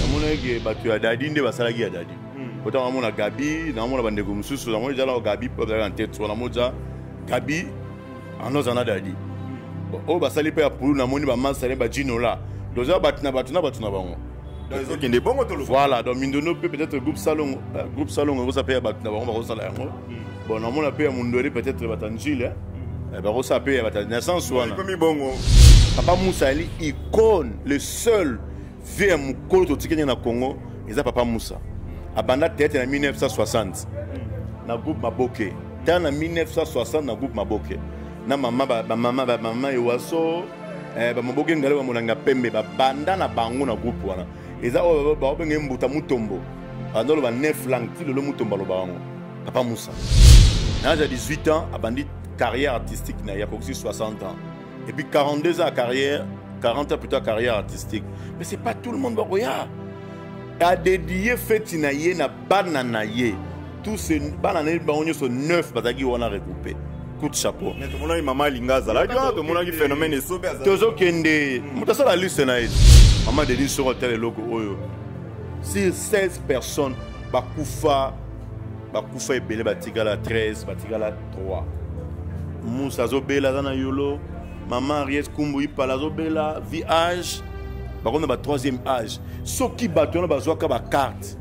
namonaki ke bato ya dadi nde basalaki ya dadi hmm. pota namona gabi namona bandeko mosusu namoni ezalaka gabi mpe azalaka na tete wana moza gabi anoza na dadi hmm. oyo basali mpe ya pulu namoni bamasane bajinola doza bato na bato na bato na bango ezokende bongo tolo voilà donc mindono mpe peut-être groupe salongo eh, groupe salongo ekosa mpe ya bato na bango bakosala yango bon namona mpe ya mundweri peut-être batanzile eh, bakosala mpe ya batanzile na sens wana papa musa ali icone le seul vie ya mokolo totiki ndenge na congo eza papa musa abanda tete na 1960 na groupe maboke ta na 1960 na groupe maboke na mama bamama bamama ewaso eh, bamaboke ngale bamonanga pembe babanda na bango na groupe wana eza oyo bakobenga ye mbuta mutombo abandi oloba 9 langue ti lelo mutombo aloba yango papa musa na age ya 18 ans abandi carrière artistique na ye akokisi 60 ans et puis 42 ans ya carrière 40 ans plutôt ya carrière artistique mais c'est pas tout le monde bakoya adedie feti na ye na bana na ye tous bana na ye bango nyonso neuf bazalaki wana regroupe coup de chapeau tomonaki mama alinga azalaki wana tomonaki phénomène esobe tozokende moto asala liste na ye mama denis soko atala eloko oyo sur 16 personnes bakufa bakufa ebele batikala 13 batikala 3 musa azobela aza na yolo mama ariete kumbu ipala azobela vih bakomi na ba troisième âge soki bato wana bazwaka bakarte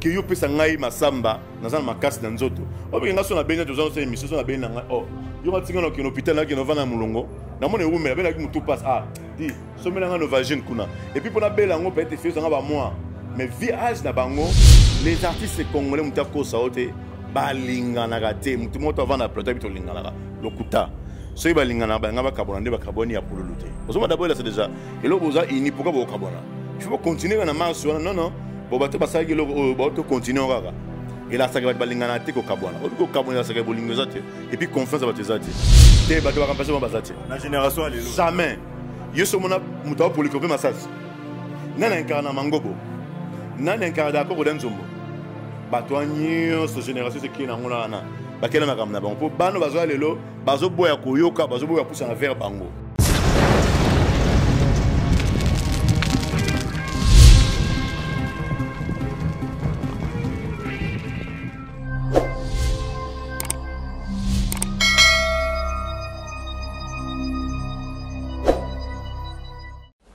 ke yo pesa ngai masamba naza na makasi na nzoto obike nga so na beni toza nosala emission so na beni na ngai o oh, yo matinga na okende hôpital nakende ovanda na molongo namona ewumela abelaki motu passe ah di somela nga novagine kuna epuis mpo nabela yango peut-être efeyo zanga bamoi mais vie age na bango les artistes congolais motu akosa yo te balinganaka te motu moko to avanda plateau abi tolinganaka lokuta soki balinganaka balinga bakabwana nde bakabwani ya pululu te ozomona daboyelasa deja eloko boza ini pourkui bokabwana il faut continuer na marche wana non non bon bato basalaki eloko oyo bato continue kaka elasaka bato balingana te kokabwana obi kokabwana elasaka bolingo eza te epuis confiance ya bato eza te te bato bakampase ma baza te na génération ya lelo jamais yo so omona moto apoliko mpe masasi nani ankara na mangobo nani ankara dakoko da nzombo bato ya nyonso génération esekei na yango na wana bakenda makambo na bango mpo bano bazwa lelo bazoboya koyoka bazoboya kusana vers bango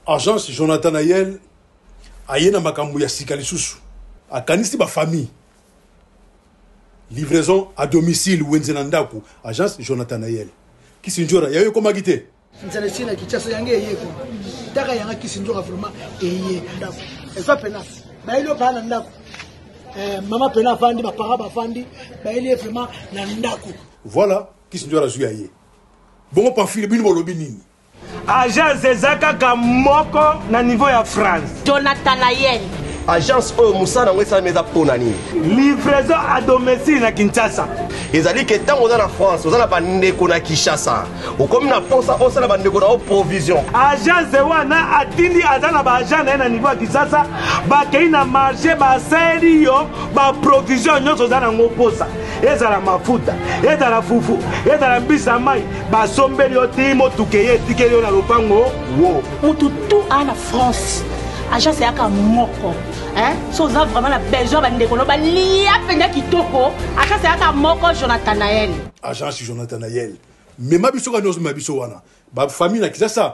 agence jonathan ayel aye na makambo ya sika lisusu akanisi bafamille Livraison à domicile wenze na ndaku agence Jonathan Nayel Kisindjora yayo ekomaki te nzala esi na Kinshasa yango eye ko taka yanga Kisindjora vraiment eye ndaku eza pena bayeli obaa na ndaku eh, mama pena avandi bapara bavandi bayeli ye vraiment na ndaku voilà Kisindjora azwi ya ye bongo pamphile bino bolobi nini Agence eza kaka moko na niveau ya France. Jonathan Ayel. agence oyo mosala yango esalami eza mpo na nini livraison à domicile na kinshasa ezali ke ntango oza na france oza na bandeko na kinshasa okomi na mposa osala bandeko na yo provision agence wana atindi aza na baagent na ye na niveau ya kinshasa bakei na marché basali yo baprovision nyonso oza na yango mposa ezala mafuta ezala fufu ezala mbisa mai basombeli yo ti motuka eye etikeli yo na lopango wo motu tu aa na france agence eyaka moko so oza vraiment na besoin bandeko no balia mpenza kitoko agence eyaka moko jonathanael agence jonathanael mema biso kani ozomema biso wana bafamille na kisasa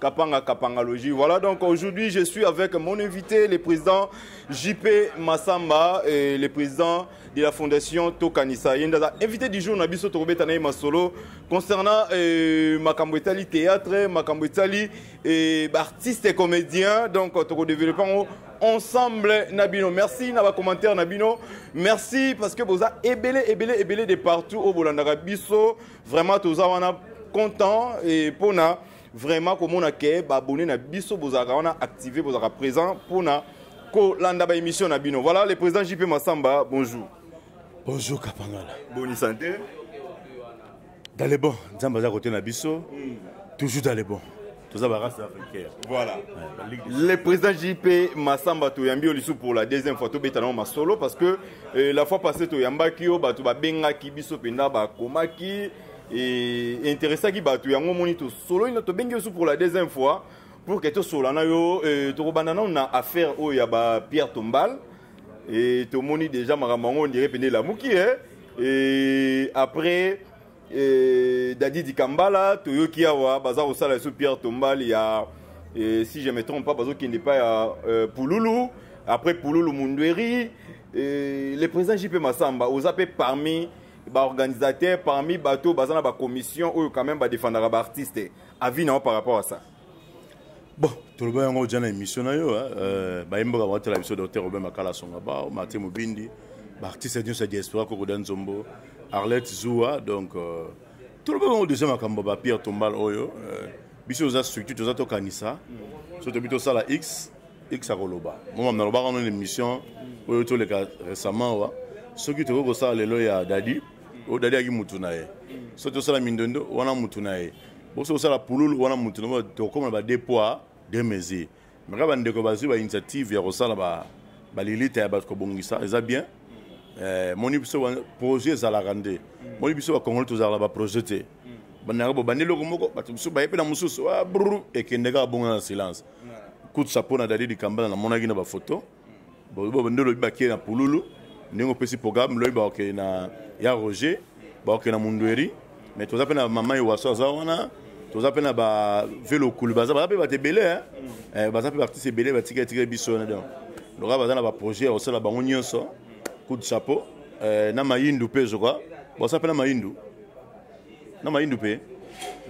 Kapanga Kapangalogie. Voilà donc aujourd'hui je suis avec mon invité, le président JP Massamba, et le président de la fondation Tokanisa. Yendaza, invité du jour Nabiso Torobeta Naï Masolo concernant euh, Makambo Etali théâtre, Makambo Etali et bah, artistes et comédiens. Donc Toko développement ensemble Nabino. Merci na ba commentaire Nabino. Merci parce que boza ebele ebele ebele de partout au Bolandaka Biso. Vraiment toza wana content et pona vraiment komona ke baabonne na biso bozalaka wana active bozalaka présent mpona kolanda baémission na bino voilà le président jp masamba bonjour bonjour kapangala boni santé dans le bon nzambe aza kote na biso hmm. toujours dans le bon toza barace africaine voilà le président jp masamba toyambi yo lisusu pour la deuxième fois tobeta nango masolo parce que euh, la fois passé toyambaki yo bato babengaki biso mpenza bakomaki et interessaki bato yango omoni tosololi na tobengi yo su pour la deuxième fois pour que tosola na yo euh, tokobanda nano na affaire oyo ya ba pierre tombal et tomoni déjà makambo yango ondire mpende elamuki e et après euh, dadi dikambala toyoki awa baza kosala lisusu pierre tombal ya et si je me trompe pas bazokende epai ya euh, pululu après pululu mundueri le président jp masamba oza mpe parmi baorganisateur parmi bato baza na bacommission oyo quand même badefendaka baartiste avis na yo par rapport à ça bon toloba yango oja na émission na yo euh, bayembaka bakotala biso docteur robin makala asonga bao martin mobindi baartiste nyonso ya diaspora kokoda nzombo arlette zua donc euh, toloba yango deja makambo ba pierre tombal oyo euh, biso toza structure toza tokanisa so tobi tosala x x akoloba moma nalobaka no na émission oyo toleka récemment wa soki tokoki kosala lelo ya dadi oyo dadi ayaki mutu na ye soki tosala mindondo wana mutu na ye boso kosala pululu wana mutu na tokoma na ba deux poids deux mesures mais kaka bandeko bazwi ba initiative ya kosala ba balilita ya bato kobongisa eza bien eh, moni biso projet ezalaka nde moni biso bakongoli tozalaka baprojet te bandaka bobandi eloko moko bato mosusu baye mpe na mosusu ah, ekende kaka bongo na silence kutsa mpo na dadi likambala namonaki na bafoto nde olobi bakei na pululu ndenge opesi programme lobi bakokei na ya roger bakokei na mundueri mais toza mpe na mama iwaso aza wana toza mpe na bavelokulu baza baza mpe bato ebele eh? eh, baza mpe baartiste ebele batika etika biso wana donc loka baza na baprojet ya kosala bango nyonso coup de chapeau eh, na mayindu mpe ezoka baza mpe na mayindu na mayindu mpe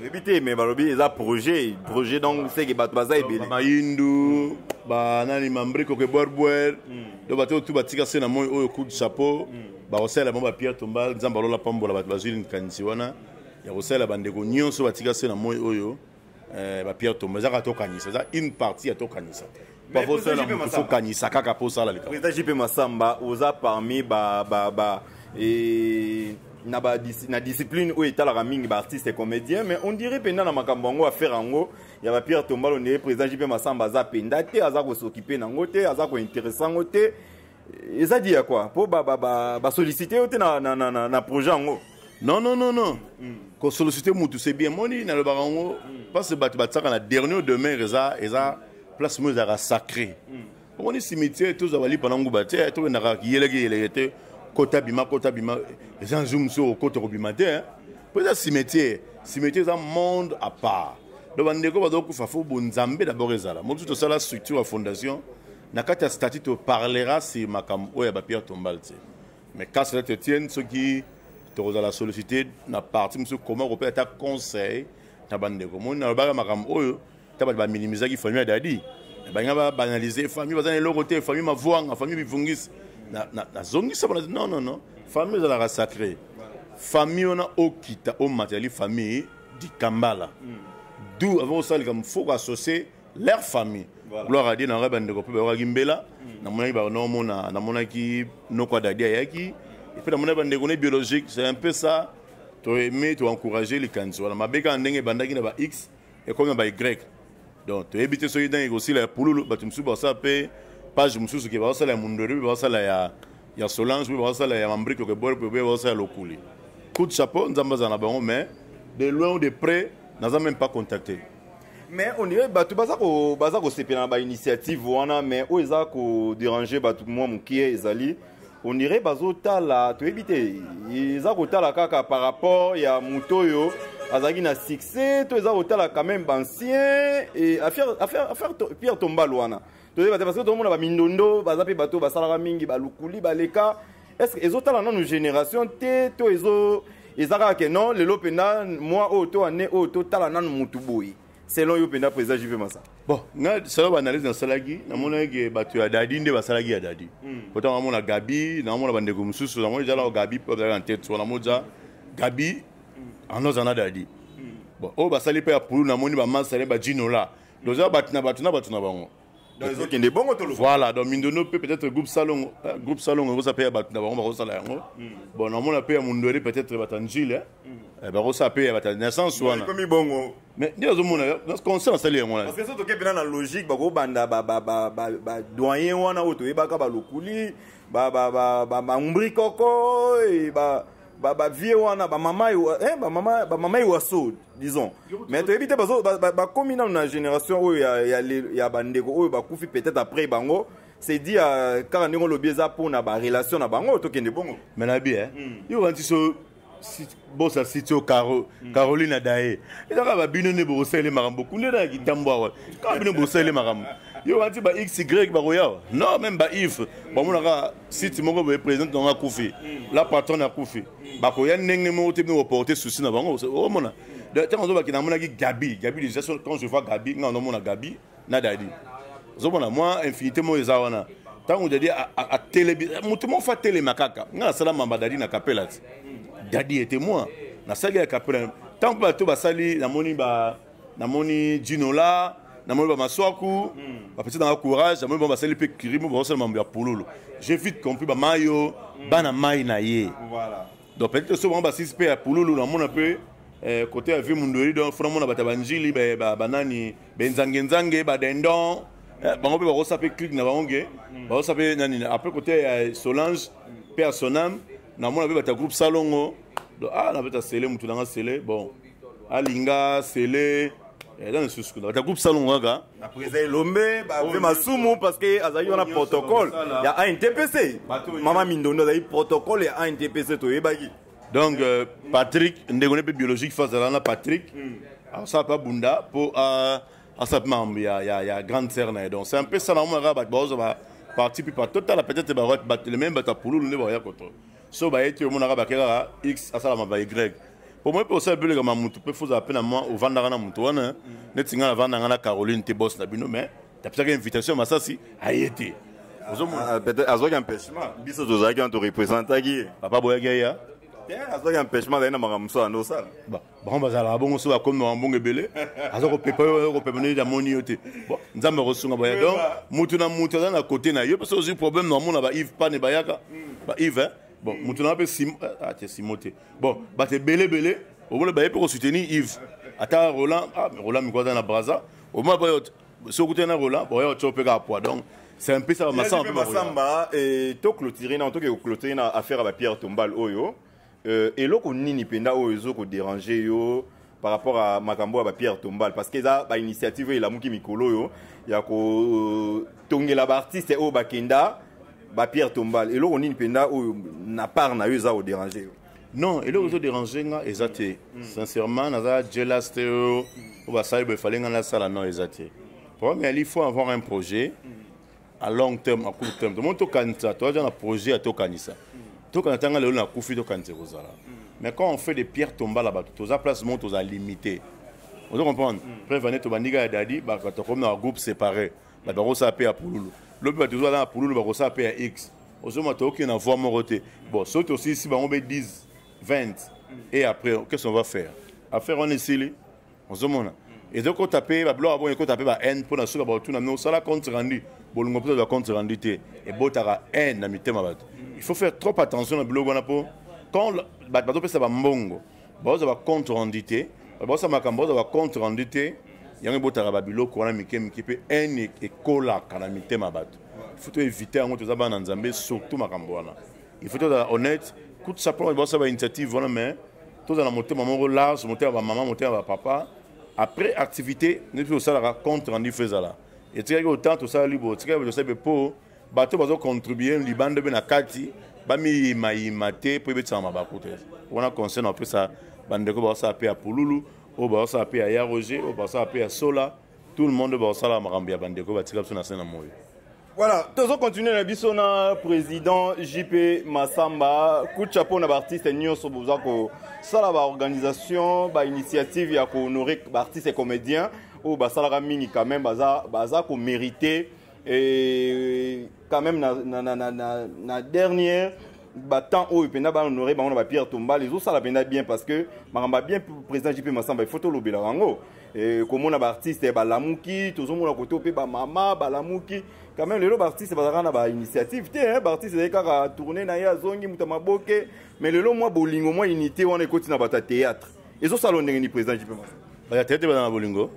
oyebi te me balobi eza projet projet donc seke bato baza ebele mayindu banani mambriko ke bwerbuer hmm. donc bato oyo tu batika se na moi oyo coup de chapeau hmm. bakosalela bango bapierre tombal nzambe alola pambola bato bazwi likanisi wana ya kosalela bandeko nyonso batika se na moi oyo eh, ba pierre tomba ezaka tokanisa eza une partie ya tokanisa pavosala motu fokanisa kaka mpo osala likambo président jp masamba oza parmi ba, ba, ba, e... na, ba, na discipline oyo etalaka mingi baartiste comédien mais on dirait mpenza na makambo yango affaire yango ya bapierre tombalo ndeye président jp masamba aza mpenza te aza kosokipe na yango te aza kointeresse yango te eza dit ya quoi po ba ba ba, ba solliciter yo te na na na, na, na projet yango non non non non mm. ko solliciter mutu c'est bien moni na lobaka yango mm. parce que bato batsaka na dernier demeure eza eza place mo ezaka sacré mm. omoni cimetière tozwa balipa na nguba te tokendaka yeleke yeleke te kota bima kota bima eza nzu mosusu okota kobima te hein? mpo eza cimetière cimetière eza monde à part donc bandeko bazokufa fo bonzambe d'abord ezala mosusu tosala structure ya fondation na kati ya statut to parlera sur makambo oyo ya bapierre tombale te mais cas cela te tienne soki tokozala sollicité na parti mosusu koma kopesa ata conseil na bandeko moni nalobaka makambo oyo ta bato baminimisaki famille ya dadi balingi babanalise famille baza na eloko te famille mavuanga famille bivungisi nazongisa bana non non non famille ezalaka sacré famille wana okita omatali famille dikambala mm. du avant osala likambo foko associe leur famille voilà. gloire adie nanga bandeko mpe bayokaki mbela mm. namonaki banaomona namonaki noko adadi ayaki epuis namonaki bandeko ne biologique c'est un peu ça toaime toencourage likanisi wana mabe kaka ndenge ebandaki na ba x ekomi na ba y donc toyebi te soki ndenge ekosila ya pululu bato mosusu basala mpe page mosusu ke baosala ya mundwere mpe baosala ya, ya solange mpe baosala ya mambrike okebore mpe mpe baosala ya lokuli coup de chapeau nzambe azala na bango mais de loin ou de près naza même pas contacté mais on dirait bato baza ko baza kosepela na bainitiative wana mais oyo eza koderange bato mwa moke ezali on dirait bazotala toyebi te eza kotala kaka par rapport ya moto oyo azalaki na succès to eza kotala quand même bancien affaire pierre tombal wana toyeba te parce que tomona bamindondo baza mpe bato basalaka mingi balukuli baleka estce ezotala nanu génération te to ezo eza kaka ke non lelo mpenza mwa oyo to ane oyo totala nanu motu boye selon yo mpenza président jupe masa bon nga selon baanalyse nasalaki namonaki ke bato ya dadi nde basalaki ya dadi hmm. potango namona gabi namona bandeko mosusu namoni eza nao gabi mpe bazalaki na tete wana moza gabi hmm. anoza na dadi hmm. bon oyo basali mpe ya pulu namoni bamasale bajinola toza bato na bato na bato na bango ezokende bongo toloba voilà donc mindono mpe peut-être groupe salongo eh, groupe salongo ekosa mpe ya bato na bango bakosala yango hmm. bon namona mpe ya mundwele peut-être bata njile eh. hmm. eh, bakosala mpe ya bata na sens wana ekomi bongo mais nde ozomona conscient asali yango wana parce que soki mpe na logique bakobanda badoyen wana oyo toyebaka balokuli bambrikoko ba ba vie wana ba mama eh ba mama ba mama iwaso disons mais toyebi te bazo bakomi nanu na génération oyo ya ya, ya bandeko oyo bakufi peut-être après bango c'est dit euh, kaka ndenge olobi eza mpo na barelation na bango tokende bongo mais na bi eh? mm. yo kanti so bosa siti oyo caro mm. caroline adaye eza kaka babino nde bokosalele makambo kunde na ya kitambo awa kaka bino bokosalele makambo yo kanti ba xy bakoya awa non meme ba ive bamonaka site moko boye présidente nango akufi la patronne akufi bakoya ndenge moko te bino koporte souci na bango omona ntango azobaki namonaki gabi gabi déjà quand je vois gabi ngai nazomona gabi na dadi ozomona mwa infinité moko eza wana ntango dadi atelemi moto moko fa atelema kaka ngai nasala mamba dadi na kapela ti dadi ete mwa nasali ya kapela ntango mpe bato basali namoni ba namoni jinola namoni bamaswaku hmm. bapesi nanga courage namoni bango basali mpe kirimo bakosala mambo ya pululu j'ai vite compris bamayo hmm. bana mai na ye donc peut-être so bango basilisi mpe ya pululu namona mpe eh, kote ya vie mundoli donc fona mona bato ya banjili banani benzangenzange badendon eh, bango mpe bakosa mpe clike na bango ke hmm. bakosa mpe nani après kote ya solange mpe ya sonam namona mpe bato ya groupe salongo donc ah nabeta sele motu nanga sele bon alinga sele eza eh, lisusu kuna bata groupe salongo kaka eza elombe bape masumu parce que azalaki wana protocole ya antpc mama mindondo azali protocole ya antpc toyebaki donc euh, patrick ndeko ne mpe biologique fa azala na patrick hmm. asala mpe abunda mpo asala mpe makambo ya grande sere na ye donc c'est un peu ça na omonaka bato baozwa ba parti mpe patotala peut-être bato le même bato ya pululu nde baoya koto so baye te omonaka bake kaka x asalama ba y po moi mpe osala bileka ma motu mpe fozala mpe na mwa ovandaka na motu wana neti ngai navanda ngai na caroline te bos na bino mais tapesaka invitation masasi aye te ah, ah, azwaki empêchement biso tozalaki wana torepresentaki ye papa boyaki aya te azwaki empêchement azali na makambo mosusu ando osala bango bazalaka bongo so bakomi mawa mbongo ebele aza kopepa yo kopepa neti amoni yo te bon nzambe akosunga boya donc motu na motu aza na kote na yo mpe so ozwi problème na omona ba ive pane bayaka hmm. ba ive bon motu na mpe simo eh, ah, te simo te bon bato ebele ebele omona baye mpe kosoutenir ive ata roland ah, roland miko aza na braza omona mpe so okutani na roland boya otyo mpe kaka poids donc c'est un peu ça masamba masamba et to clôturer na to ke clôturer na affaire ya ba Pierre Tombal oyo euh, eloko nini mpenza oyo ezo koderange yo par rapport à makambo ya bapierre tombal parce que eza bainitiative oyo elamuki mikolo oyo ya kotongela baartiste oyo bakenda bapierre tombal eloko nini mpenza oyo na part na yo eza koderange yo non eloko ezo derange nga eza te mm. sincèrement naza jelas te oyo basali boye fale nga nasala non eza te problème ya lifo avoir un projet mm. à long terme à court terme tomoni tokanisa toaza na projet ya tokanisa tokanisa tanga lelo nakufi tokanisa ekozala mais quand on fait des pierres tombala bato toza place moko toza limité ozo comprendre mm. preuve ane tobandika ya dadi bato tokomi na bagroupe séparé bato bakosala mpe ya pululu lobi bato tozala na pululu bakosala mpe ya x ozoma tookende na voie moko te bon soki tosilisi bango mpe 10 20 et après qu'est ce qu'on va faire affaire wana esili ozomona ezokota mpe babiloko bongo ekota mpe bahaine mpo na soki baotuna me osala compte rendu bolingo mpo tozwa compte rendu te ebotaka haine na mitema bato il faut faire trop attention na biloko wana mpo quand bato bazopesa bambongo baozwa bacompte rendu te baosa makambo baozwa bacompte rendu te yango ebotaka babiloko wana mike mike mpe haine ekolaka na mitema bato il faut toevite yango toza bana nzambe surtout makambo wana il faut tozala honnête kutu sapona baosa bainitiative wana mais tozala na motema moko large motema ya bamama motema ya bapapa après activité nde mpe tosalaka compte rendu fo ezala etikaki otan tosalali bo etikaki bo tosali mpe mpo bato bazocontribue libanda mpe na kati bamiyimayima te mpo ebetisaka mabaku te wana conseil na opesa bandeko baosala mpe ya pululu oyo baosala mpe ya ya roger oyo baosala mpe ya sola tout le monde bakosala makambo ya bandeko batika biso na se na moyo voilà tozo continue na biso na président jp masamba kucha mpo na baartiste nyonso boza kosala baorganisation bainitiative ya kohonore baartiste comédien oyo basalaka mingi quand même baza, baza komérite ba et quand même na, na, na, na, na, na dernière batemps oyo mpenza bahonore bango na bapierre tombale ezosala mpenza bien parce que makambo ya bien président jp masamba ifo tolobela yango eh, komona baartiste eh, balamuki tozomona kote mpe bamama balamuki quand même lelo baartiste bazalaka na bainitiative te eh, baartiste ezali kaka tourne na ye azongi moto ya maboke mais lelo mwa bolingo mwa unité wana ekoti na bato ya théâtre ezo sala ndenge ni président JP Massa ba tete bana bolingo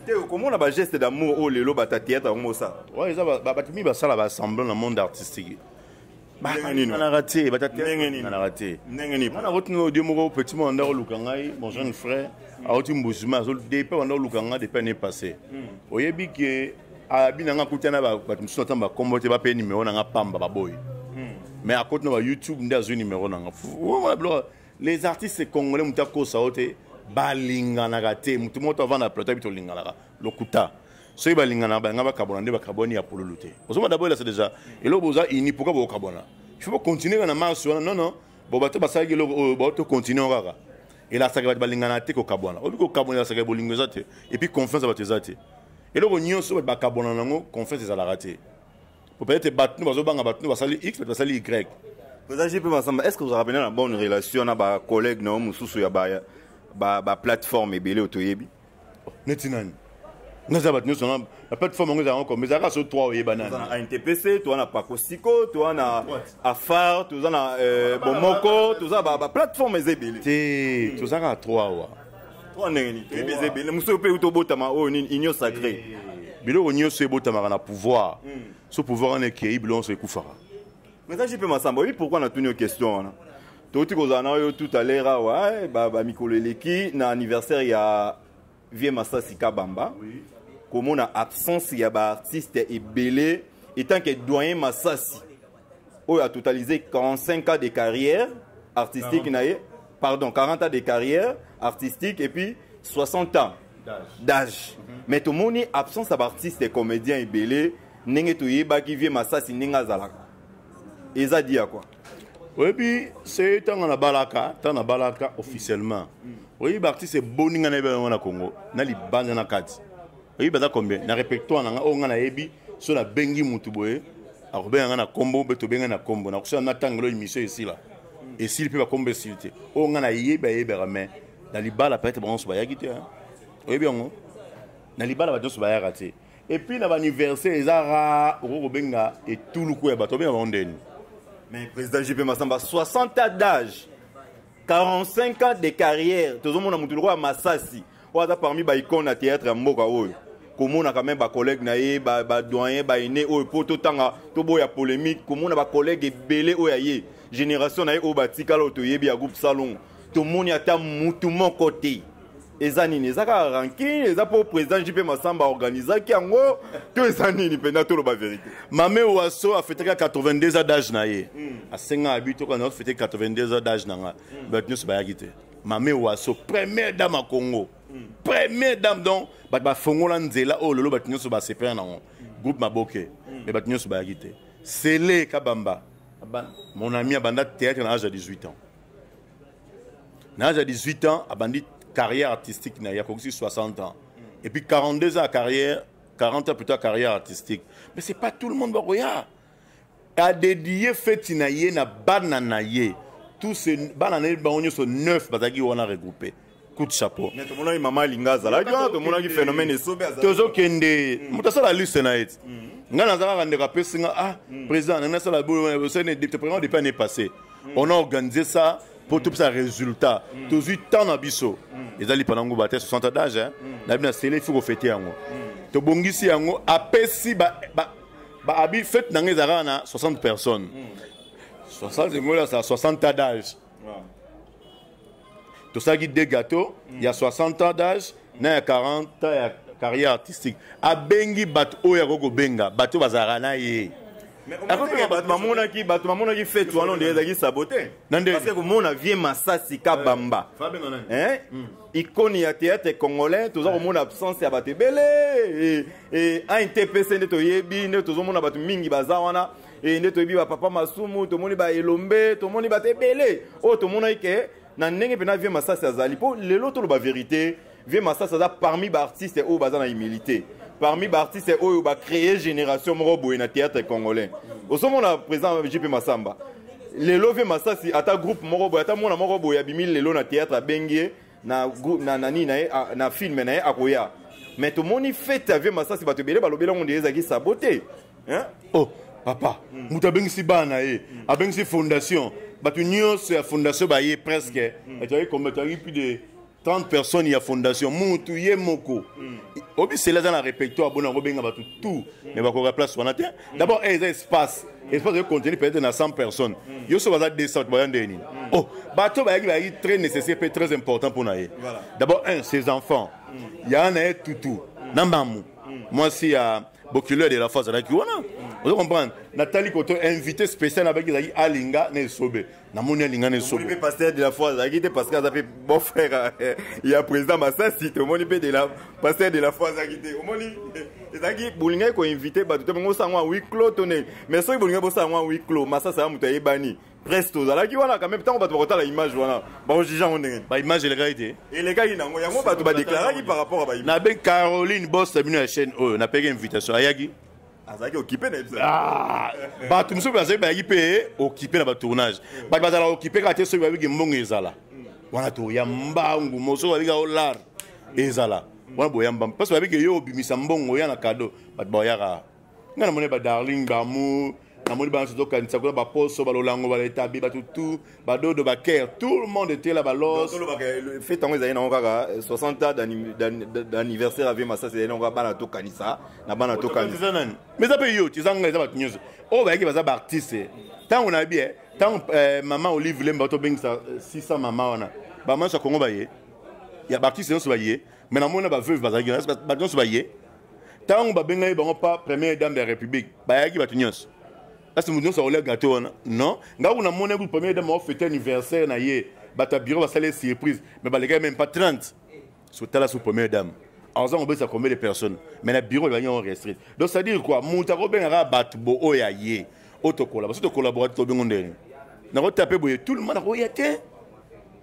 te okomona ba geste d'amour oyo lelo bata théâtre yango mosala ouais eza bato mingi basala ba semblant na monde artistique bananaka te batananaka te wana akotuna odio moko petit moko anda koluka ngai mon jeune frère akoti mbusuma depe anda koluka ngai depe année passé hmm. oyebi ke abi na ngai akuta na bato mosusu ata bakombo te bape nimero na ngai pamba baboyi hmm. mais akoti na ba youtube nde azwi nimero na ngai les artistes congolais moto akosa yo te balinganaka te moto moko to avanda plateau yebi tolinganaka lokuta soki balinganaka balinga bakabwana nde bakabwani ya pululu te ozoma dabo elasa deja eloko boza ini pourkui bokokabwana il faut bocontinue kaka na marche wana non non bo bato basalaki eloko oyo bao tocontinue kaka elasaka bato balinganaka te kokabwana oyebi kokabwana elasaka bolingo eza te epuis confiance ya bato eza te eloko nyonso bato bakabwana na yango confiance ezalaka te peut-être bato bazobanga bato basali x bato basali y président jp masamba est ce que ozalaka mpena na bonne relation na bacollègue na yo mosusu ya baplateforme ebele oyo toyebi neti nani naza bato nyonso na plateforme yango ezalaka comme ezalaka so 3 oyeba nani ntpc toza na pakosiko toza na afar toza na euh, bomoko toza baplateforme eza ebele te tozalaka 3 wa Trois ndenge nini toyebi eza ebele mosusu oyo mpe euti obotama oyo nini union sacré eh. biloko nyonso ebotamaka na pouvoir hmm. so pouvoir wana ekei biloko nyonso ekufaka mais aji mpe masamba oyebi pourkui natuni yo question wana touti kozala na yo tout à l'heure awa eh, bamikolo eleki na anniversaire ya vie masasi kabamba komona absence ya baartiste ebele etant que doyen masasi oyo a totalisé 45 ans de carrière artistique na ye pardon 40 ans de carrière artistique et puis 60 ans d'âge mm -hmm. mais tomoni absence ya baartiste comédien ebele ndenge toyebaki vie masasi ndenge azalaka eza di ya kua oyebi se ntango nabalaka ntango nabalaka officiellement oyebi baartiste eboni ngai nayebi yango na congo na libanda na kati oyebi baza combien na répertoire na ngai oyo ngai nayebi so nabengi motu boye akobenga ngai na nkombo mpe tobengai na nkombo nakosala na ntango elo émission esila esili mpe bakombo esili te oyo ngai nayebi ayebaka mai na libala peut-être bango nyonso bayaki te oyebi yango na libala bato nyonso bayaka te epuis na baanniversaire eza ra okoki kobenga etuluku ya bato obenga bango ndeni mais président jp masamba 60 ans d'âge 45 ans de carrière tozomona motu lokola masasi oyo aza parmi baicone ya théâtre ya mboka oyo komonaka meme bacollègue na ye badoyen baine oyo mpo totanga toboya polémique komona bacollègue ebele oyo ya ye génération na ye oyo batikala oyo toyebi ya groupe salongo tomoni ata mutu moko te eza nini eza kaka rankine eza mpo président jp masamba organisaki yango to eza nini mpenza toloba verité mame waso afetaki ya 82 a dage na ye hmm. asengaka bi toka na ofete 82 a dage na ngai hmm. bato nyonso bayaki te mame waso première dame ya congo hmm. première dame donc bato bafongola nzela oyo oh, lelo bato nyonso basepela nango groupe maboke me bato nyonso bayaki te sele kabamba mon ami abanda théâtre na age ya 18 ans na âge ya 18 ans abandi carrière artistique na ye akokisi 60 ans et puis 42 ans ya carrière 40 ans plus tard carrière artistique mais c'est pas tout le monde bakoya adedie feti na ye na bana na ye tous bana na ye bango nyonso 9 bazalaki wana regroupe coup de chapeau mais tomonaki mama alinga azalaki wana tomonaki phénomène esobe tozokende mm. moto asala liste na ye mm. ngai naza kaka ndeko apesi nga ah mm. président nanga asala boyosaipresident depuis année passé on a organisé ça mpo topesa résultat tozwi temps na biso ezali pana nguba te 60 d'age hein. na bino asele ifi kofete yango tobongisi yango apesi baabi fete na ngai ezalaka na 60 personnes 60 engoli asala 60 d'age ah. tosalaki deux gâteau mm. ya 60 ans d'âge na ya 40 ans ya carrière artistique abengi bato oyo akoki kobenga bato oyo bazalaka na ye akopema bato bamonaki bato bamonaki fete wana onde ezalaki sabote parce komona vie masasi kabamba eh, hmm. ikoni ya théâtre congolais toza komona absence ya bato ebele eh, eh, intpc nde toyebi nde tozomona bato mingi baza wana e nde toyebi bapapa masumu tomoni baelombe tomoni bato ebele oyo tomonaki ke na ndenge mpena vie masasi azali mpo lelo toloba verité vie masasi aza parmi baartiste oyo baza na humilité parmi baartiste oyo bacree génération moko boye na théâtre congolais osomona président jp masamba lelo vie masasi ata groupe moko boye ata mwana moko boye abimi lelo na théâtre abengi ye na, na, na nini na ye na filme na ye akoya mais tomoni fete ya vie masasi bato ebele balobeli yango nde ezalaki sabo te hein? oh papa mm. moto abengisi bana na ye mm. abengisi fondation bato nyonso ya fondation baye presque mm. ezalaki mm. kombe ezalaki plus de 30 personnes ya fondation mutu ye moko mm. obisela aza na répertoire bona kobenga bato tout mm. mais bakoka place wana te mm. d'abord eh, eza espace espace oyo contenu peut-être na 100 personnes yo so baza 200 bato baza ndenge nini oh bato bayaki bayaki très nécessaire mpe très important mpo na ye d'abord un ses enfants ya na ye tutu na mamu mwasi ya bokilo ya delafa azalaki wana ozo comprendre natali koto invité spécial nabaki ezalaki alinga na esobe namoni alinga na esobe mpe pasteur de la foi azalaki te parce que aza mpe bon frère eh, ya président masasi tomoni mpe de la pasteur de la foi azalaki te omoni ezalaki bolingaki koinvite bato te bongo osango ya huis clos to ndenge mais soki bolingaki bosala yango ya huis clos masasi ya moto ayebani presque ozalaki wana quand même ntango bato bakotala image wana bakojuge yango ndenge ba image elekaki te elekaki nango yango bato badeklaraki par rapport a baimage nabe caroline bos na bino ya chaîne oyo napeki invitation ayaki azalaki okipe na episode ah, bato mosusu bazali bayaki mpe okipe na batournage bato bazala okipe kaka te soki babiki mbongo ezala wana toya mbangu mosusu babika o lar ezala wana boya mbangu parce babiki yo obimisa mbongo oya na kado bato baoyaka nga namoni ba darling ba amour namoni bana tozokanisa kuna baposo balolango baletabi bato tout badodo bakere tout le monde était là balos euh, fete yango ezali nango kaka 60 euh, ans d'anniversaire avie masasi ezali nango kaka bana tokanisa na bana tokanisa nani mais eza mpe yo tizanga eza bato nyonso oyo bayaki baza baartiste ntango na bie ntango euh, mama olive lemba tobengisa 600 mama wana bamanso ya kongo baye ya baartiste nyonso baye mais namoni na baveuve bazalaki bato nyonso baye ntango babengaki bango pa première dame ya république bayaki bato nyonso kasi moto nyonso akolia gato wana non ngai kuna mona kutu première dame aofete anniversaire na ye bato ya bureau basali ye surprise mais balekaki même pas 30 sotala sous première dame aza kobesa combien de personnes mais na bureau ebaki yango restrite donc c'est à dire quoi moto akobengaka bato bo oyo ya ye oyo tokola baso tokolabora te tobengo ndenge nakotape boye tout le monde akoya te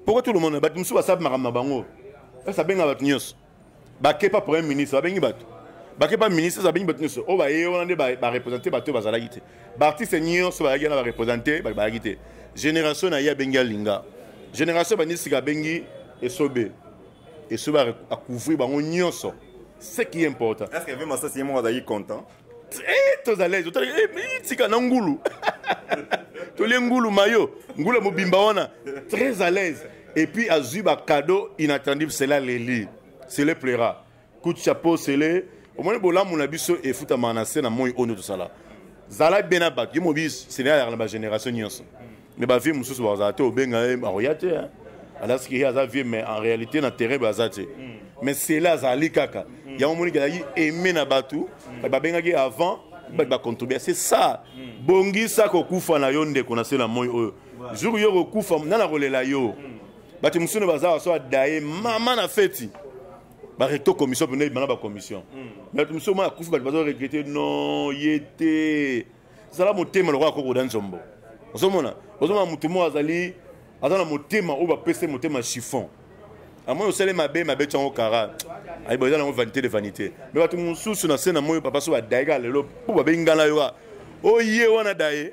pourquoi tout le monde bato mosusu basabi makambo na bango esa abenga bato nyonso bakepa premier ministre babengi bato bakepa ministre abengi bato nyonso oyo baye wana nde barepresente bato oyo bazalaki te baartiste nyonso bayaki wana barepresente bato bayaki te génération na ye abengi alinga génération banisika abengi esobe esobe akouvri bango nyonso ce qui est important est ce que ve masasi ye moko azalaki content Eh, tozalai totali eh, tika na ngulu tolie ngulu mayo ngulu ya mobimba wana très à l'aise et puis azwi bacado inattendible cela leli sele pleura coup de chapeau sele omoni bolamu na biso efutamaka na se na moi oyo nde tosala zala bien na bato yo mobi seneyalaka na bagénération nyonso mais ba vieux mususu bazala te obenga ye akoya te hein alasi ke aza vieux mais en réalité na terrain baza te mm. mais cela azali kaka mm. yango omoni kelaki aime na bato mm. babengaki avant bato bacontribue c'est ça bongisa kokufa na yo ndeko na se na moi oyo jour yo kokufa nani akolela yo bato mosusu baza baso adaye mama na feti barecto commission mpena ebana bacommission bato mosusu ma akufi bato bazo regrete non ye te zala motema lokola koko da nzombo ozomona ozomona motu moko azali aza na motema oyo bapesi motema chiffon amoni osali mabe mabe ti yango kara ayiba eza nango vanité de vanité me bato mosusu na se na moi papa so badaye kaka lelo mpo babengi ngai na yoka oye wana daye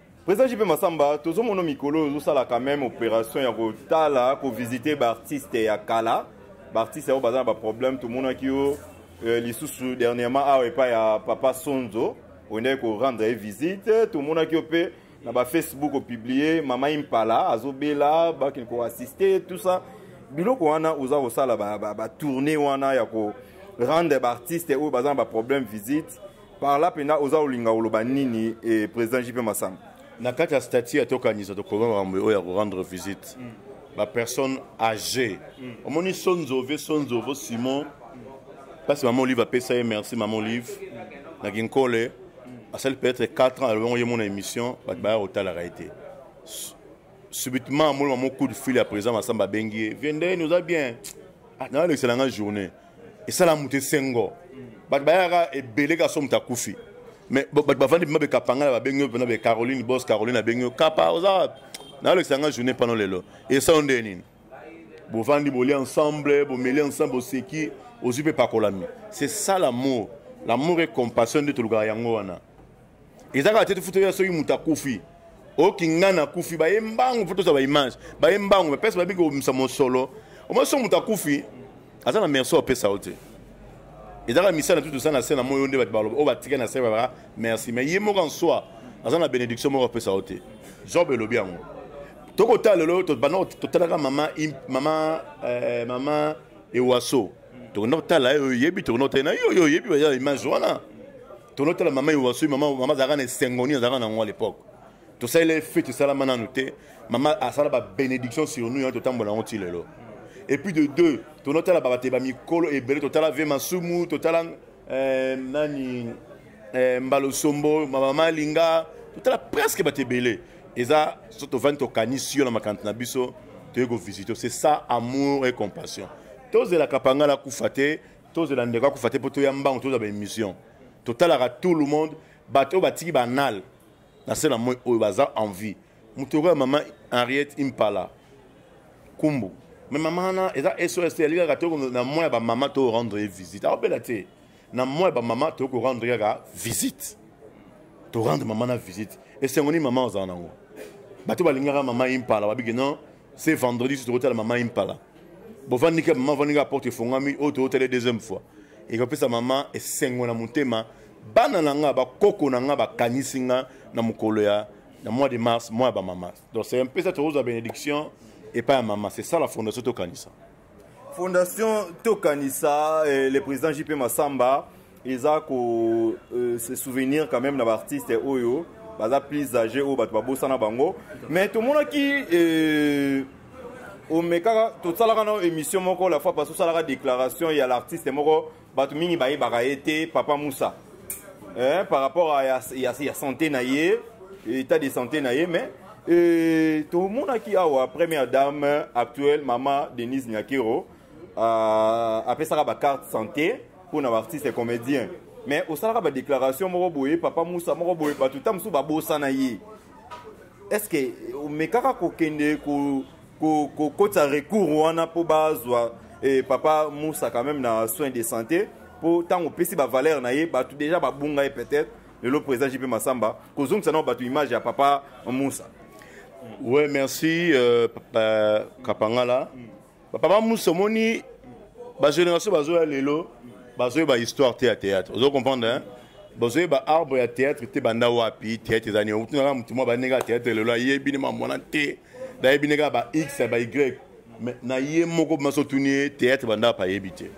Président JP Massamba, tozo mono mikolo ozo sala quand même opération ya kotala, ko visiter ba artistes ya kala, ba artistes ya baza ba problème tout mona ki yo euh, lisusu dernièrement awa epa ya papa Sonzo, ondai ko rendre une visite, tout mona ki yo pe na ba Facebook au publier mama Impala azo bela ba kin ko assister tout ça. Biloko wana oza ko sala ba ba, ba tournée wana ya ko rendre ba artistes oyo baza ba problème visite. par là mpenza oza olinga oloba nini e président jp masamba na kati ya statut ya tokanisa tokoma makambo oyo ya korendre visite mm. bapersonne age mm. omoni sonzove sonzovo simon mpasi mama olive apesa ye merci mama olive na kinkole asali peut-être 4 ans alobongo ye mona émission bato baya kotalaka ye te subitement amoni mamo coup de fil ya président masamba abengi ye viendeni oza bien ah, nalekisela nga journée esala moto esengo bato bayaka ebele ka so moto akufi mais bato bavandi bima bekapangala babengi yo mpena be caroline bos caroline abengi yo kapa oza wapi nayolekisa yanga journée pano lelo esao nde nini bovandi bolia ensemble bomeli ensemble boseki ozwi mpe pakolami c'est ça l'amour l'amour et compassion nde tolukaka yango wana eza kaka te tofuta ya soki moto akufi oyoki ngai nakufi baye mbangu mpo tozwa baimage baye mbangu bapesa babi kobimisa mosolo omoi soki moto akufi aza na merci opesa yo te ezalaka misala tu tosala na se na moi yo nde bato baloba oyo batika na se babaka merci mais ye moko en soi aza na bénédiction moko apesa yo te job elobi yango tokotala lelo banda totalaka mama mama euh, mama ewaso tokenda kotala yo oyebi tokenda kotala na yo yo oyebi baza na image wana tokenda kotala mama iwasui mama mama azalaka na esengo nini azalaka na yango à l'époque tosalela ye fete esalama nanu te mama asala babénédiction sur nous yango totambola yango ti lelo et puis de deux tokenda kotala babate bamikolo ebele totala ve masumu totala euh, nani euh, mbalosombo mama malinga totala presque bato ebele eza so tovandi tokanisi yo na makanisi na biso toye kovisite c'est ça amour et compassion tozela kapangala akufa te tozela ndeko akufa te mpo toya mbango tozwa baémission totalaka tout le monde bato oyo batiki banal na se na moi oyo baza en vie moto okoya mama henriette impala kumbu me mama wana eza sos te yalikaka to na moi ya bamama to rendre ye visite aobela te na mwa ya bamama toyei korendre kaka visite torendre mama na visite esengo nini mama ozala nango bato balingaka mama impala babiki non se vendredi so tokotala mama impala bovandi ke mama avandi kaka porte efongami oyo tokotala deuxième fois ekopesa mama esengo na motema bana na nga bakoko na nga bakanisi nga na mokolo ya na mois de mars mois ya bamama donc c'est un peu ça tokozwa bénédiction epai ya mama c'est ça la fondation tokanisa fondation tokanisa eh, le président jp masamba eza ko euh, se souvenir quand même na baartiste oyo baza plus age oyo bato babosana bango mais tomonaki euh, omekaka tosalaka na émission moko la fois parce osalaka déclaration ya l'artiste moko bato mingi bayebaka ye te papa musa eh, par rapport à ya, ya, ya santé na ye état de santé na ye mais eh, tomonaki awa première dame actuelle mama denise nyakero uh, apesaka bacarte santé mpo na baartiste comédien mais osalaka badéclaration moko boye papa musa moko boye bato ta mosusu babosana ye est ce que omekaka kokende ko kokotisa recours wana mpo bazwa eh, papa musa quand même na soin de santé mpo ntango opesi bavaleur na ye bato deja babunga ye peut-être lelo président jp masamba kozongisa nao bato image ya papa musa ouais merci euh, papa kapangala mm. papa musa omoni bagénération bazoya lelo bazoyeba histoire te ya théâtre ozo comprendre hein? bozoyeba arbre ya théâtre te banda wapi théâtre eza nini okutuna kaka motu mwa baninga ya théâtre lelo ayebi ne mamwana te nayebi ne kaka ba x ya ba y mais na ye moko maso otuni ye théâtre banda wapi ayebi te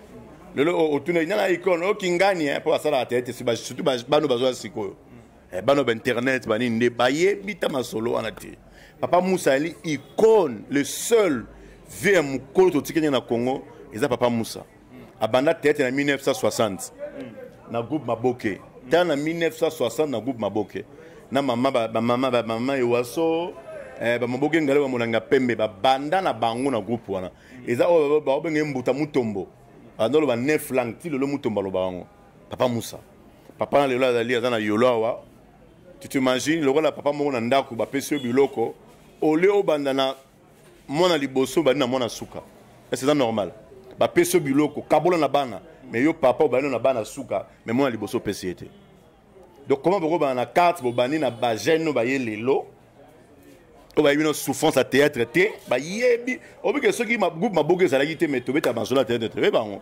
lelo otuna nana icone okingani mpo basalaka théâtre surtout bano bazoya sikoyo eh, bano ba internet banini nde bayebi ta masolo wana te papa musa ali icone le seul vie ya mokolo totikenge na congo eza papa musa abanda teyatre na 1960 na groupe maboke ta na 1960 na groupe maboke na mama bamama bamama ewaso eh, bamaboke ngale bamolanga pembe babanda na bango na groupe wana eza oyo baobenge mbuta mutombo banda oloba 9 langue ti lelo mutombo aloba yango papa musa papa na lelo azali aza na yolo awa tu t'imagine lokola papa moko na ndako bapesi yo biloko olio obanda na mwana liboso obandi na mwana suka ese eza normal bapesi yo biloko kabola na bana me yo papa obandi na bana suka me mwana liboso opesi ye te donc comment bokobana na carte bobandi na bagene oyo baye lelo oyo bayebi no souffrance ya théâtre te bayebi obike soki groupe maboka ezalaki te me tobeta masolo ya théâtre te oyebi bango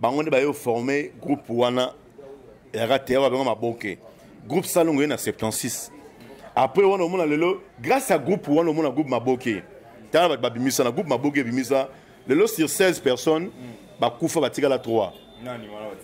bango nde bayo forme groupe wana yaka te babenga maboke groupe salongo ye na 76 après wana omona lelo grâce à groupe wana omona groupe maboke tala bato babimisa na groupe maboke ebimisa lelo sur 16 personnes bakufa batikala 3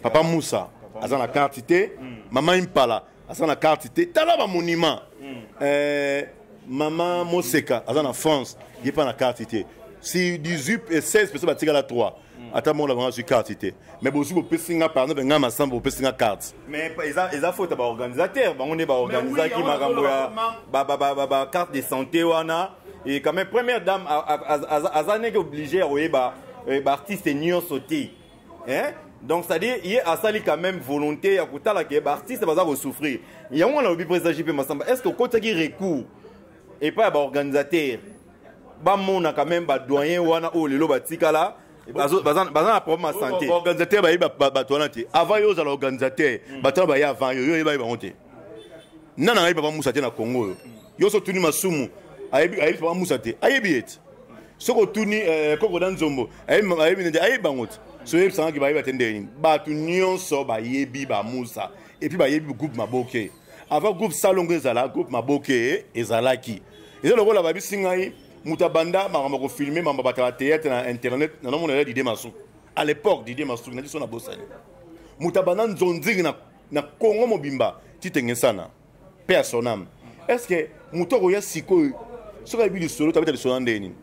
papa musa aza na karte te mama impala aza na carte te tala ba monument mm. eh, mama moseka aza na france ye mpa na carte te si 18 et 16 personnes batikala 3 mm. ata moko na bango azwi carte te mais bozwi bopesi nga par exemple ngai masamba bopesi nga carte mais eza faute ya baorganisateur bango nde baorganisaki makambo ya bacarte de santé wana et quand même première dame aza neke obligé ya koyeba eh, baartiste nyonso te hein? donc c'est-à-dire ye asali quand même volonté ya kotala ke baartiste baza kosouffrir yango wana alobi président jp masamba est ce que okotisaki recours epai ya baorganisateur bamona quand même badoyen wana oyo lelo batikala baza na problème ya santé baorganisateur bayebi bato wana te avant yo ozala organisateur hmm. bato wana baye avant yo yo oyebaye bango te nana ayebi papa musa te na congo oyo yo so otuni masumu ayebi papa musa te ayebi ye te soki otuni eh, koko na nzombo ayebi nende ayebi bango te so oyebisangaki bayeba te ndenge nini bato nyonso bayebi bamusa epuis bayebi groupe maboke avant groupe salongo ezala groupe maboke ezalaki eza lokola babisi ngai moto abanda makambo ya kofilme mambo batala théâtre na internet nanomona ya didie masuku à l'époque didie masuku na biso na bosani moto abanda nzonzingi na, na congo mobimba titengesana pe à son âme est ce que moto akoya sikoyo soki ayebi lisolo tabeta lisolo na ndenge nini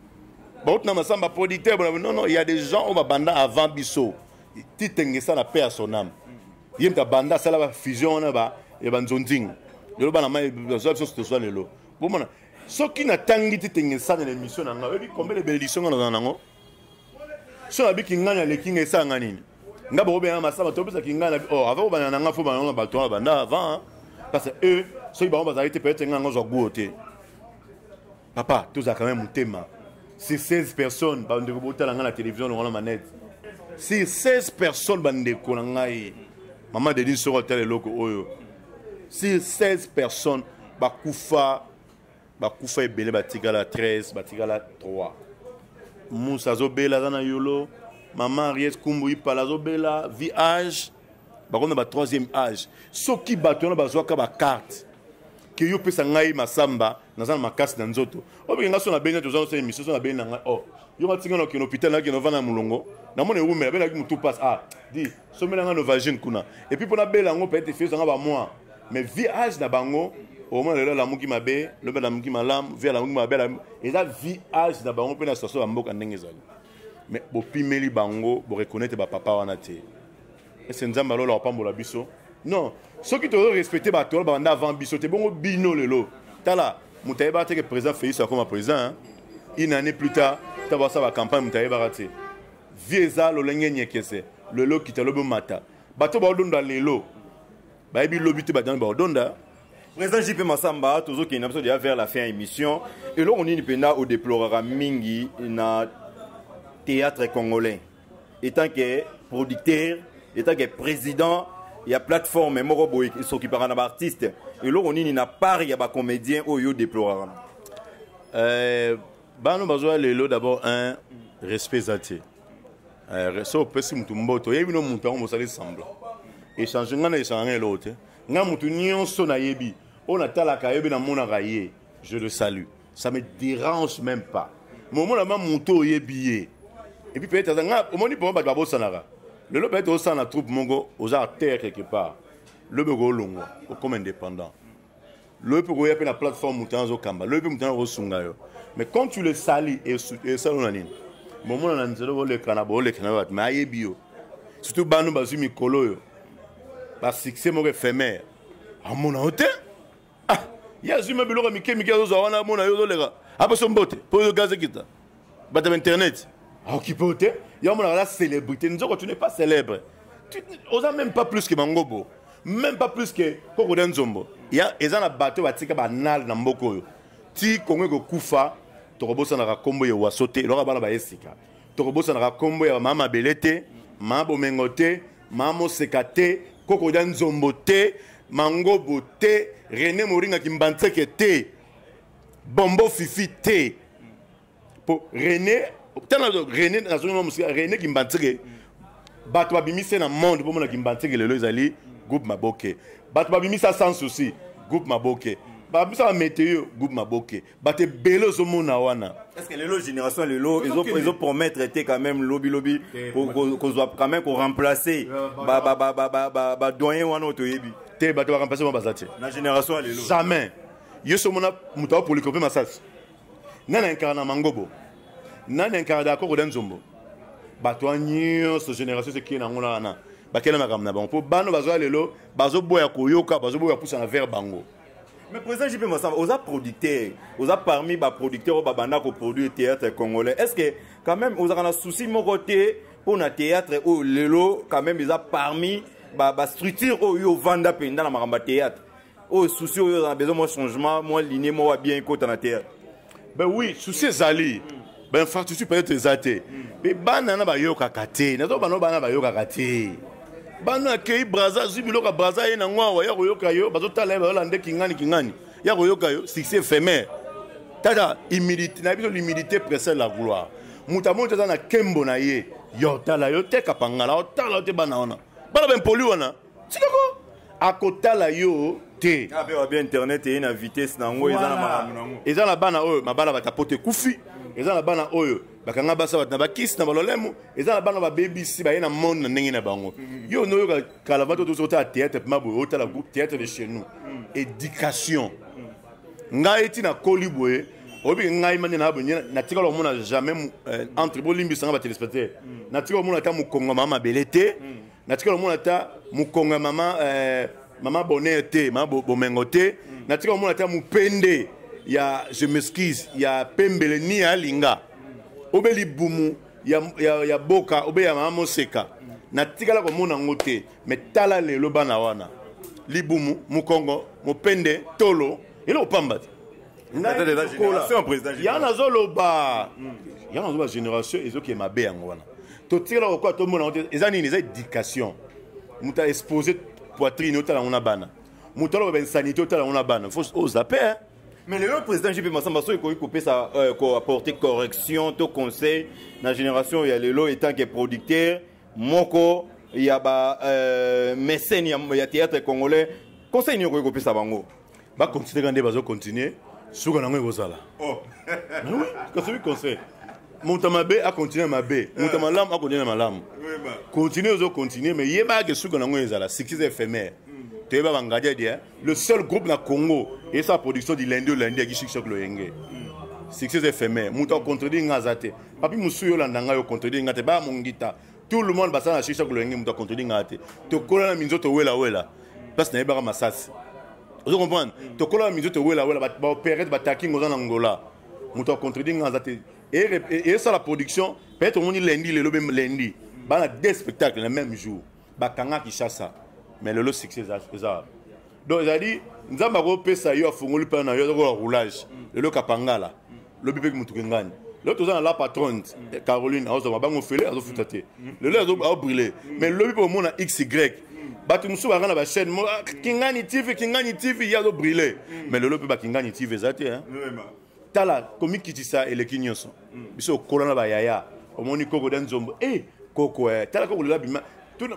bauti na masamba producteur bona non non il y a des gens oyo babanda avant biso titengesa na pe à son âme ye moto abanda asala ba fusion wana ba ya banzonzingi lelo bana mai bazwa biso tozwa lelo bomona soki natangi titengesa na émission na ngai oyebi combien de bénédiction ngai nazala nango so nabi kingani aleki nga esala nga nini nga bakobengana masaba topesa kingani nabi oh, avant kobanda na nga fo banana bato wana banda avant parce que eux soki bango bazali te peut-être nga yango ozwa guo te papa tozala quand même motema si 16 personnes bandeko botala ngai na télévision longola manete si 16 personnes bandeko na ngai mama dedin soko atala eloko oyo si 16 personnes bakufa bakufa ebele batikala 13 batikala 3 musa azobela aza na yolo mama henriette kumbu ipala azobela vi age bakomi na ba troisième age soki bato wana bazwaka bakarte ke yo opesa ngai masamba naza na makasi na nzoto obike ngai so na beni toza nosala émission so na beni na ngai o oh, yo matinga na okende hôpital nakende ovanda na molongo namona ewumela belaki motu pasi a ah, di somela nga novagine kuna epuis mpo nabela yango peut-être efiyesa nga bamwa mais vie age na bango omona lelo alamuki mabe lobi alamuki malamu vie alamuki mabe eza vie age na bango mpe na situation ya mboka ndenge ezali mais bopimeli bango boreconnaitre bapapa wana te ese nzambe alola kopambola biso non soki tozo respecte bato wana babanda avant biso te bongo bino lelo tala moto ayebaka te ke président félix akoma président une année plus tard ntango basala bacampagne moto ayebaka te vie eza lolenge nyekese lelo okita lobi omata bato baodonda lelo bayebi lobi te badani baodonda président jp masamba tozokende na biso deya vers la fin ya émission eloko nini mpenza odeploraka mingi na théâtre congolais etant que producteur etant que président ya plateforme moko boye esokipaka na baartiste eloko nini na part ya bacomédien oyo yo deploraka euh, bano bazoya lelo d'abord un respect eza te eh, so opesi motu mboto oyebi no motu yango mosali semblant echange ngai na echange ngai eloko te ngai motu nyonso nayebi oyo natalaka ayebi namonaka ye je le salue ça me dérange même pas momona ma motu oyebi ye epuis peut-être aza ngai omoni mpo bato babosanaka lelo peut-être osala na troupe moko oza terre quelque part lobi okolongwa okoma indépendant loye mpe koya mpe na plateforme moto wana azokamba loye mpe moto wana akosunga yo mais quand tu le sali esalo na nini bomona na nzela boleka na boleka na bato mais ayebi yo surtout bano bazwi mikolo oyo basuccès moko ephémère amona yo te ah, ye azwi ma biloko mike mike azozwa wana amona yo ozoleka aposo mbote mpo oyo gaze kita bato ya internet aokipe yo te yo amonaka la célébrité nzoko tu n'es pas célèbre oza même pas plus que mangobo même pas plus que koko de nzombo ya eza na bato batika banale na mboka oyo ti kongo ekokufa tokobosanaka nkombo ya waso te eloko bana baye sika tokobosanaka nkombo ya mama mabele te mama bomengo te mama moseka te koko da nzombo te mangobo te rene moringa kimbanseke te bombo fifi te po rené tala rené nazongi na mosika rené kimbantseke bato babimisi na monde bomona kimbantseke lelo ezali groupe maboke bato babimisa sans souci groupe maboke babimisa bameteo groupe maboke bato ebele ozomona wana parceke lelo génération lelo ezopromettre te quand même lobilobi kozwa quand même koremplace badoyen wana oyo toyebi te bato baremplace wana baza te na génération ya lelo jamais yo so omona moto aopolika mpe masasi nani ankara na mangobo nani ankara dakor oda nzombo bato wana nyonso génération esekei na yango na wana bakela makambo na bango mpo bana bazoya lelo bazoboya koyoka bazoboya pusa na vere bango mais président jp masamba oza producteur oza parmi baproducteur oyo babanda koproduire théâtre congolais est ce que quand même ozalaka na souci moko te mpo na théâtre oyo lelo quand même eza parmi bastructure ba oyo ovanda mpenza na makambo ya théâtre oyo souci oyo na besoin mwa changement mwa linie moko bien ekota na terre ben oui souci ezali ben infrastructure peut-être eza te mpe bana na bayokaka te nazo bana bana bayokaka te bana akei braza azwi biloko ya braza ye nango awa ya koyoka yo bazotala ye bazolande kingani kingani ya koyoka yo succès éphémère tata humilité na biso l'humilité précède la gloire moto amoni te aza na kembo na ye yo otala yo te kapangala otala yo te bana wana bana baimpoli wana tikoko akotala yo te ah, bien internet eye na vitesse na yango eza na makambo na yango eza na bana oyo mabala batapoto ekufi eza na bana oyo bakanga basi bato na bakisi na balolemo eza na bana babebisi baye na monde na ndenge na bango mm. yo onoyoka kala bato tozo otala théâtre pema boye otala groupe théâtre de chez nous mm. éducation mm. ngai ti nakoli boye oyebi ngai mani na bonye natikala komona jamais euh, entre bolimbisanga batelespectateur natikala komona ata mokongama mabele te natika komona ata mokongo ya mama eh, mama bonheur te mama bomengo te mm. natika komona ata mopende ya je m'excuse ya pembele ni ya alinga obe libumu ya, ya, ya boka obe ya mama moseka natikala komona yango te me tala lelo bana wana libumu mokongo mopende tolo eloko pamba te ya nazoloba ya nazoloba génération ezokee mabe yango wana totikala kokoa tomona yango te eza nini eza éducation moto aexpose poitrine otala yango na bana moto aloba insanité otala yango na bana fo ozape oh, mais lelo président jp masamba soki ekoki kopesa euh, koapporte correction to conseil na génération ya lelo etant que producteur moko ya ba euh, mécène ya théâtre congolais conseil nini okoki kopesa bango ba continuer kande bazo continuer suka nango ekozala oh. kasi oui conseil moto ya mabe akontinue na mabe moto ya eh. malamu akontinue na malamu continue ozo continue mais yebaka ke suka nango ezala succès éphémère hmm. toyeba bangadia dia le seul groupe na congo esa production du lundi au lundi yaki succès loyenge hmm. succès éphémère moto akontredire nga aza te papi mosusu yo olanda ngai okontredire nga te baya mongita tout le monde basala na shisha kolenge moto akontoni ngaa te tokola na minzoto welawela place nayebaka masasi ozo comprendre tokola na minzoto welawela baopere te batakinga oza na ngola moto akontredi ngaa aza te esala production peut-être omoni lundi lelo be lundi bana deux spectacle na même jour bakanga kishasa mais lelo succès eza donc ezali nzambe akopesa yo afungoli mpana na yo azakola roulage lelo kapangala lobi mpe motuka engani lelo toza na la patronne eh, caroline azwa mabango ofele azofuta te lelo azobrille mais lobi mpe omona xy bato mosusu baka na bachaîne ah, kingani tv kingani tv ye azobrille mais lelo mpe bakingani tv eza te tala komikitisa eleki nyonso mm. biso okola na bayaya omoni koko da nzombo e eh, koko eh, tala koko lela bima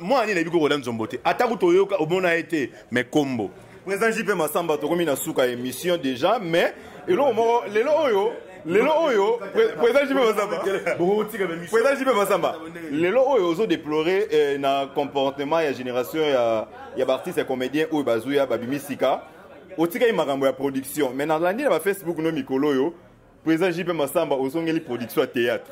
mwana nini nayebi koko da nzombo te ata kutu oyoka omona ye te me kombo président jp masamba tokomi na suka ya émission déjà mais eloko moko lelo oyo lelo oyo président jp masamba président jp masamba lelo oyo ozo déplore eh, na comportement ya génération ya ya baartiste ya comédien oyo bazuya babimi sika otikaki makambo ya production mais nalandi na ba facebook no mikolo oyo président jp masamba ozongeli production ya théâtre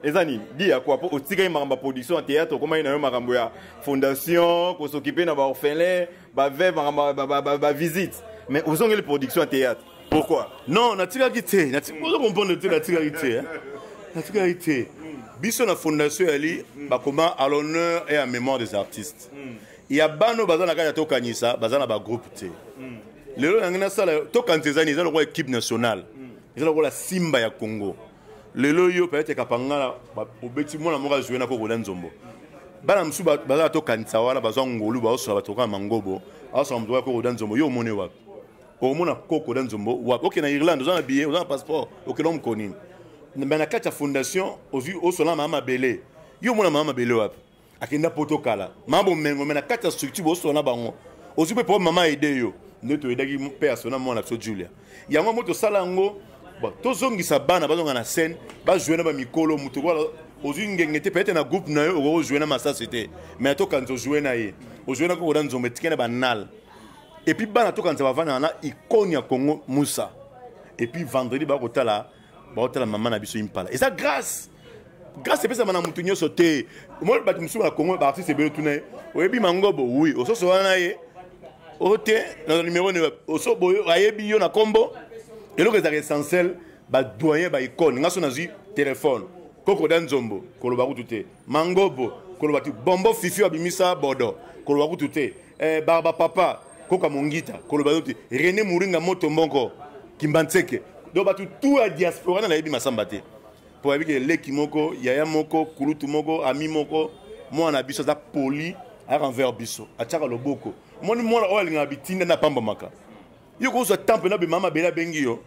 eza nini di ya kua mpo otikaki makambo ya production ya théâtre okomaki na yo makambo ya fondation kosokipe na baorphelin baveve makambo bavisite mais ozongeli production ya théâtre pourquoi non natikaki te ozo comprendre te natikaki te natikaki te biso na fondation yali bakoma à l'honneur et à mémoire des artistes mm. ya bana oyo baza na kati ya tokanisa baza na bagroupe te mm. lelo nange nasala tokanisa ezani eza lokola équipe nationale mm. eza lokola simba ya congo lelo yo peut-être kapangala obeti mwana moko azwi na kokola nzombo bana mosusu bazala tokanisa wana bazwa ngolu baosola bato kaka mangobo aosola moto ya kokoda nzombo yo omoni wapi omona kokoda nzombo wapi okende na irlande oza na billet oza na passeport okende omoko nini me na kati ya fondation ozwi osola mama mabele yo omona mama mabele wapi akenda poto kala mama bomengo me na kati ya structure bosona bango ozwi mpe po mama aide yo nde toyedaki mpe asona mwana biso julia yango yango tosala yango tozongisa bana bazonga na scène bajoue na bamikolo moto ozwi ngenge te peut-être na groupe na yo okoki ojoue na masasi te mais tokanisa ojoue na ye ojoue na koko na nzombo etike na banal epuis bana tokanisa bavanda na icone ya congo musa epuis vendredi bakotala baotala mama na biso impala eza grâce grâce epesama na moto nyonso te omoni bato mosusu na congo baartiste ebele tuna ye oyebi mangobo wi ososo wana ye o te na numero ne oso boye ayebi yo na nkombo eloko ezalaka essentiel badoyen baicone ngai so nazwi telefone kokoda nzombo koloba kutu te mangobo koloba tu bombo fifi abimisa bodo koloba kutu te eh, barba papa koka mongita koloba yo te rene moringa moto mbongo kimbanseke donc bato tu ya diaspora na nayebi masamba te mpo bayebi ke leki moko yaya moko kulutu moko ami moko mwana na biso aza poli ayaka envers biso atyaka loboko moni mwana oyo alingaka bitinda na apambamaka yo kozwa temps mpena bemama mabele abengi yo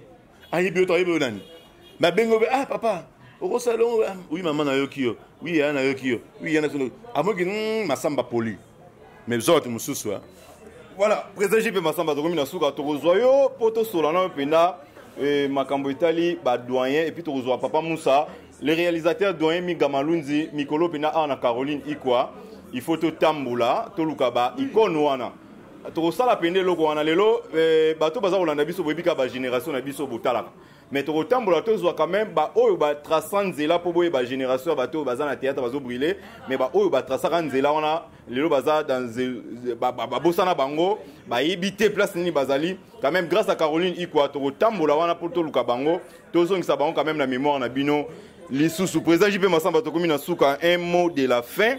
ayebi yo toyebi yo nani babengi obe ah papa okosala elongo ah, oui mama nayoki yo oui yaya nayoki yo oui yana sono amoki hmm, masamba poli mais zote mosusu hein. voilà président jp masamba tokomi na suka tokozwa yo mpo tosola nayo mpenza eh, makambo etali badoyen epuis tokozwa papa musa le réalisateur doyen miga malunzi mikolo mpenza awa na caroline ikwa il faut totambola toluka baikone wana tokosala mpenza eloko wana lelo eh, bato baza kolanda biso boyebi kaka bagénération na biso botalaka mais tokotambola tozwa quand même baoyo batrasa nzela mpo boyeba génération ya bato oyo baza na théâtre bazobrile mais baoyo batrasaka nzela wana lelo baza babosana bango bayebi te place nini bazali quand même grâce à caroline ikwa tokotambola wana mpo toluka bango tozongisa bango quand même na mémoire na bino lisusu président jp masamba tokomi na suka un mot de la fin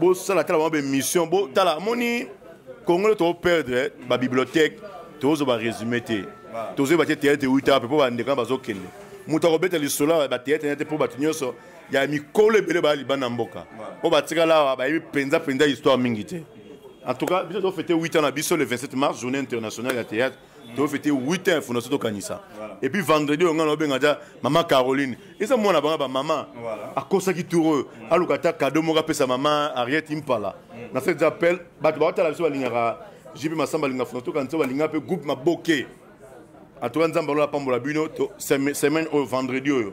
bosala tala bango baémission botala amoni congolo toperdre babibliothèque tozoba résumé te tozoyeba te théâtre ewita mpe mpo bandeko na bazokende moto akobeta lisolo ya bathéâtre na te mpo bato nyonso ya mikolo ebele baya libanda ya mboka mpo batikala awa bayebi mpenza mpenza histoire mingi te en tout cas biso tofete 8 ans na biso le 27 mars journée internationale ya théâtre tofete 8 heures fondation tokanisa et puis vendredi oyo ngai naobenga ja mama caroline eza mwana banga bamama akosaki tour aluka ata kado moko apesa mama ariete impala mm. na sete appel bato baotala biso balingaka jipe masamba alinga fondation tokanisa balinga mpe groupe maboke atoka nzambe alola apambola bino semaine oyo vendredi oyo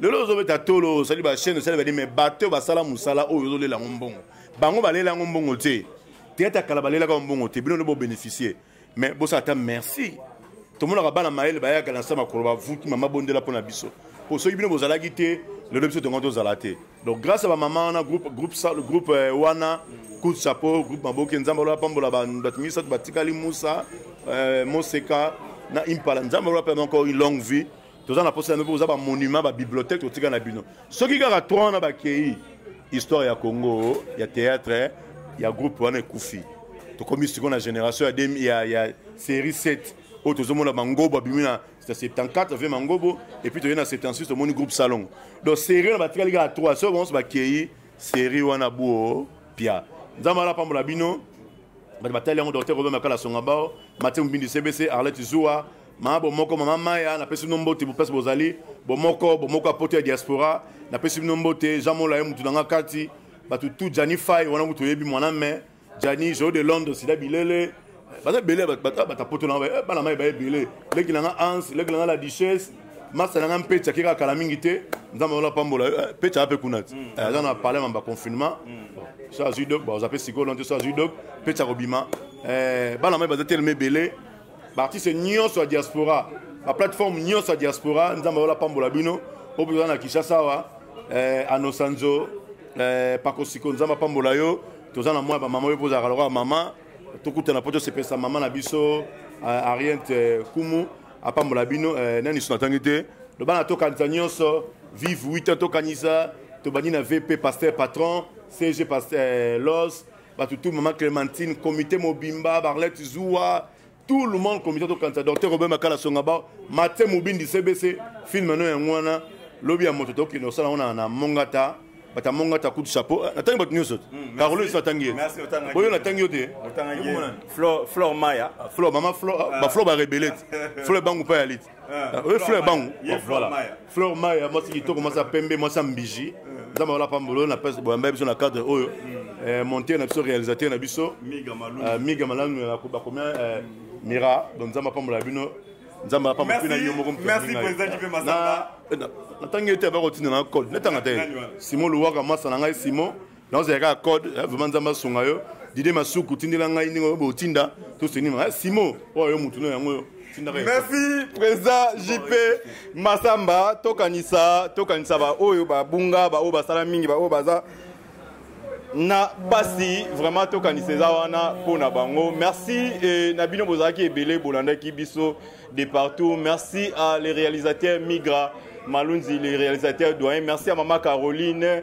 lelo ozobeta tolo osali bachaine osali badi me bato oyo basala mosala oyo ozolela yango mbongo bango balela yango mbongo te teyata kala balelaka yango mbongo te bino nde bobénéficie mais bosala ata merci tomonaka bana mayele bayaka na nsa makolo bavuki mama bondela mpo na biso mpo soki bino bozalaki te lelo biso tongo tozala te donc grâce ya bamama wana groupe, groupe, groupe euh, wana coup de chapeau groupe maboke nzambe alola pambola bato misato batikali musa euh, moseka na impala nzambe alola mpe encore une longue vie toza na posa na mpe oza ba monument ba bibliothèque totika na bino soki kaka 3 wana bakei histoire ya congo ya théâtre ya groupe wana ekufi tokomi sikoyo na génération ya, demi, ya, ya série 7 oyo tozomona mangobo abimi na 74 vie mangobo epuis toye na 76 tomoni groupe salongo donc série wana batikali kaka 3 soki banso bakei série wana buo pia nzambe ala apambola bino bato batali yango docteur robert makala songa bao matie mobindi cbc arlette zuwa mama bomoko mama maya napesi bino mbote place bozali bomoko bomoko ya poto ya diaspora napesi bino mbote jean mola ye motu na nga kati bato tu jani fai wana kutu oyebi mwana me jani joyo de londres sida bilele baza ebele bata poto na eh, bana mai baye ebele leki na nga ans leki na nga la duchesse masta na nga mpe tiaki kaka kala mingi te nzambe ola pambola eh, mpe tiaka mpe kuna ti mm. eh, aza na palema baconfinement mm. so azwi dok baza mpe sikoyo lonte so azwi dok mpe tia kobima bana mai baza telema ebele baartiste nyonso ya diaspora baplateforme nyonso ya diaspora nzambe ayola pambola bino oyo mpenza na kinshasa awa eh, anosanzo eh, pakosiko nzambe apambola yo toza na mwa ya bamama oyo mpo ozalaka lokola mama tokutana mpo tosepelisa mama na biso eh, ariente eh, kumu apambola bino eh, nani so natangi te loba na tokanisa nyonso vive 8 ans tokanisa tobandi na vp pasteur patron cg pasteur eh, los bato tout mama clémentine comité mobimba barlette zuwa tout le monde comité tokanisa docteur robert makala songa bao matie mobindi cbc filme no yango wana lobi ya moto tokende kosala yango na mongata bata mongata coup de chapeau eh, natangi bato nyonso hmm, carolo esi natangi ye oyo natangi yo te flor maya ah, flor mama flor ah, ah. baflor barebelete flor ebangu mpa ya lite oyo fleur bango fleur maya mwasi kitoko mwasi ya pembe mwasi ya mbiji nzambe wala pambolo na pese boyamba biso na cadre oyo eh, monteur na biso réalisateur na biso miga malanu eh, bakomia eh, mira donc nzambe apambola bino nzambe apambola mpe na yo moko natangi ete bakotinda na code natanga te simon luwaka masa na ngai simon naozala kaka code eh, vraiment nzambe asunga yo dide masuku tindela ngai ndenge oyo botinda tosenima eh, simo oyo yo motu no yango oyo merci président jp masamba tokanisa tokanisa baoyo babunga baoyo basala mingi baoyo baza na pasi vraiment tokanisa eza wana mpo na bango merci e, na bino bozalaki ebele bolandaki biso de partout merci à les réalisateurs migra malunzi les réalisateurs doyen merci à mama caroline